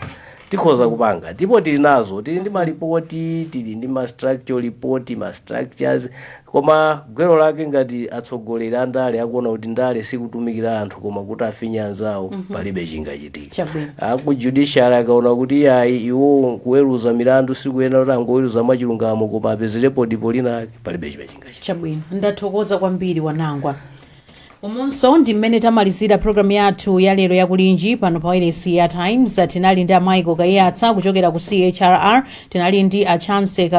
tikhoza kupanga ndipo tili nazo tili ndi malipoti tili ndi ma structure report ma structures koma gwero lake ngati atsogoleri a ndale akuona kuti ndale sikutumikira anthu koma kuti afinye anzawo palibe chingachitika Chabwino. aku judiciary akaona kuti ayi iwo kuweruza milandu sikuyenera kuti angoweruza mwachilungamo koma apezerepo dipo linake palibe chimene chingachitika chabwino ndathokoza kwambiri wanangwa umunso ndi mmene tamalizira programu yathu ya lero ya kulinji pano pa wailesi ya times tinali ndi a michael kaiyatsa kuchokera ku chrr tinali ndi a chance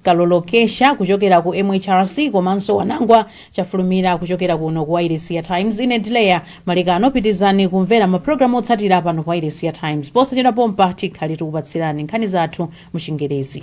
kalolokesya kuchokera ku mhrc komanso wanangwa chafulumira kuchokera kuno ku wailesi ya times ine ndi leah malekano pitirizani kumvera mapulogalamu otsatira pano pa wailesi ya times posachedwa pompa tikhale tikupatsirani nkhani zathu mu chingerezi